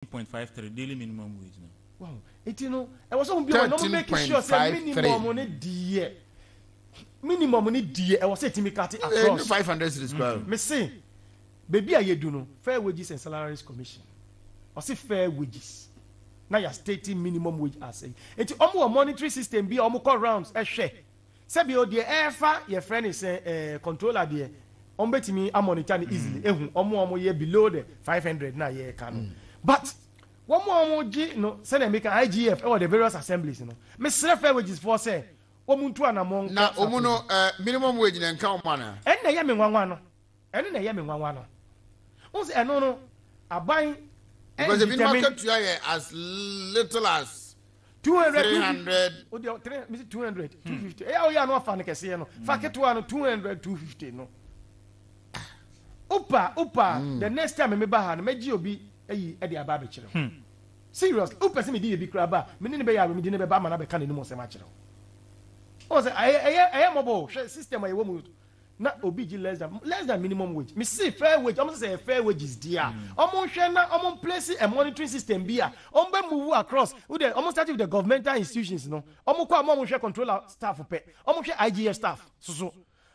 13.53 daily minimum wage no. Wow. Eti no, ɛwɔ sɛ ɔmo bi a wɔn ɔmo make sure sɛ minimum ne deɛ minimum ne deɛ ɛwɔ sɛ etimi kate eh, across. Ɛnyɛ five hundred series kura. Mm-hmm. Mese beebi a yɛdu no fair wages and salaries commission ɔse fair wages na yɛ state minimum wage ase eti ɔmo wɔ monetary system bi a ɔmo kɔ rounds ɛhwɛ. Eh, Sɛbi o deɛ ɛɛfa yɛfrɛ no sɛ ɛɛ controller deɛ wɔn bɛtumi a monitor no easily ehu wɔn a wɔn yɛ below the 500 na yɛɛka no but wɔn a wɔn gye no sɛdeɛ meka IGF ɛwɔ the various assemblies no mesrɛ fair wages foɔ sɛ wɔn ntu anamɔ nkɔ safo no mu. Na wɔn no ɛɛ minimum wage na ɛnka wɔn anaa? Ɛnna ɛyɛ me nwanwa no. Ɛno na ɛyɛ me nwanwa no. Wohu sɛ ɛno no, aban Because ebinom nhinta me. akatua yɛ as little as Two hundred, two fifty. 300 O deɛ, three- mesi 200, 250. Ɛyɛ a woyɛ a na wafa no kɛseɛ no. Fa ketewa no, 200, 250 no. Wopa a, wopa a, the next time meba ha no, mɛgye obi ayi de aba abɛkyerɛ wo. Seriously, wopɛ sɛ mede yɛ bi koraa ba a, me ne no bɛyɛ awerɛ, mede no bɛba ama no abɛka n'anim nsɛm akyerɛ wo. Wohu sɛ ɛyɛ- ɛyɛ ɛyɛ mmɔbɔ o. Hwɛ system a yɛwɔ mu na obi gye less than less than minimum wage me see fair wage ɔmo sɛ sɛ fair wages di a mm. ɔmo nhwɛ na ɔmo place a monitoring system bi a ɔmo bɛ move across wo de ɔmo start with the governmental institutions no ɔmo kɔ a ɔmo nhwɛ controller staff pɛ ɔmo hwɛ IGF staff soso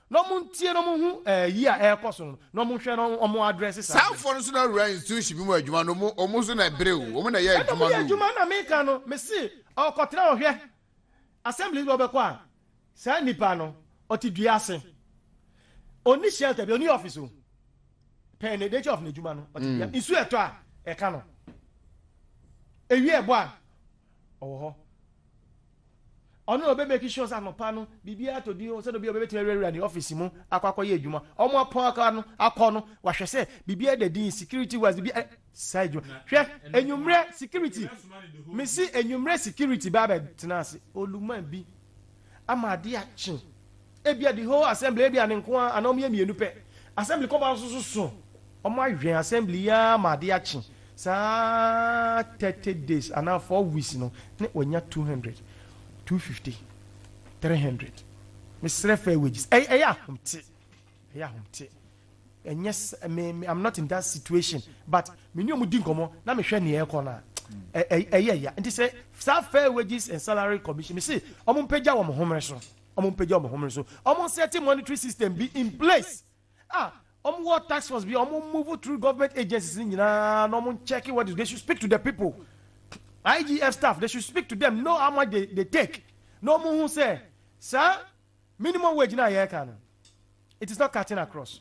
na ɔmo ntie na ɔmo hu ɛɛ eh, yi a ɛrekɔ so no na ɔmo nhwɛ na ɔmo adrɛse saa. saa afɔ no so na awura institution bi mu adwuma no ɔmo ɔmo nso na ɛbere o ɔmo na ɛyɛ adwuma no. ɛna ɔmo yɛ adwuma na meka no mesi ɔkɔtena ɔhwɛ. Assemblies bi wɔbɛkɔ a, saa nipa no ɔte dua ase. Onni shelter bi, onni office o. Pɛn ne nature of n'adwuma no, ɔte dua. Mm. Nsu ɛtɔ a, ɛka no. Ewi ɛbɔ a, ɔwɔ hɔ. Ɔno na ɔbɛ make sure sɛ anɔpa no biribi atɔ din o, sɛ obi a ɔbɛbɛtumi awurawura ne office mu akɔ akɔyɛ adwuma. Wɔn apɔn akɔ no, akɔ no, wahwɛ sɛ biribi ada din security wise, biribi saa adwuma hwɛ enyimrɛ security mesi enyimrɛ security ba bɛ tena ase oluma bi ama ade akye ebia the whole assembly ebia ne nko ara anaa ɔmo yɛ mmienu pɛ assembly kɔba nso so so ɔmo ahwɛn assembly yi ara ma ade akye saa thirty days anaa four weeks no ne wɔnya two hundred two fifty three hundred mesrɛ fair wages ɛyɛ ɛyɛ ahomte. Ɛyɛ ahomte. Ɛnyɛ me me I'm not in that situation but me ne ɔmo di nkɔmɔ na me hwɛ nea ɛkɔ no a ɛyɛ ya nti sɛ saa fair wages and salary commission me se ɔmo mpagya wɔn homere so ɔmo mpagya wɔn homere so ɔmo nsɛte monetary system bi in place a ɔmo wɔ tax force bi ɔmo move through government agencies ni nyinaa na ɔmo check what they should speak to the people IGF staff they should speak to them know how much they, they take na ɔmo hu sɛ saa Minimum wage no a yɛreka no, it is not cutting across.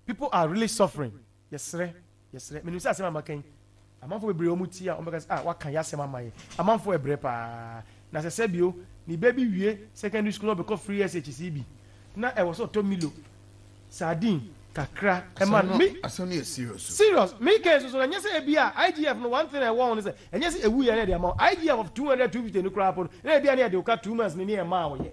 People are really suffering. Yɛsrɛ, yɛsrɛ. Menim sɛ asɛm a maka yi, amanfo bebree a wɔtie a wɔbɛka sɛ, ah, waka yɛ asɛm ama yɛ. Amanfo ɛbrɛ paa. Na sɛ sɛ bio, ne ba bi wie secondary school na ɔbɛkɔ free SHC bi, na ɛwɔ sɛ ɔtɔ Milo, sardine kakra ɛma no. Me, asɛm no yɛ serious o. Serious. Me kɛn soso no, ɛnyɛ sɛ ebi a IGF no one thing a ɛwɔ ho ne sɛ, ɛnyɛ sɛ ewu yɛ na ɛde ama wo. IGF of 200, 250 no koraa po no, na ebi a na yɛde wo ka two months no ne yɛmaa wo yɛ.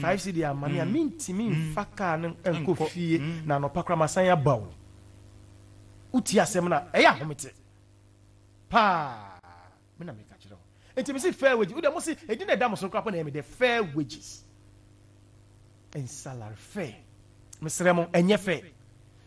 five cedi ama me a mentumi mfa kaa no nkɔ fie na anɔpa koraa masan aba o wotie asɛm no a ɛyɛ ahomete paa me na meka kyerɛ wo nti mese fair wages wode mo se ɛdi na ɛda mo so koraa po na ɛyɛ me dɛ fair wages and salary fair mesrɛ mo ɛnyɛ fair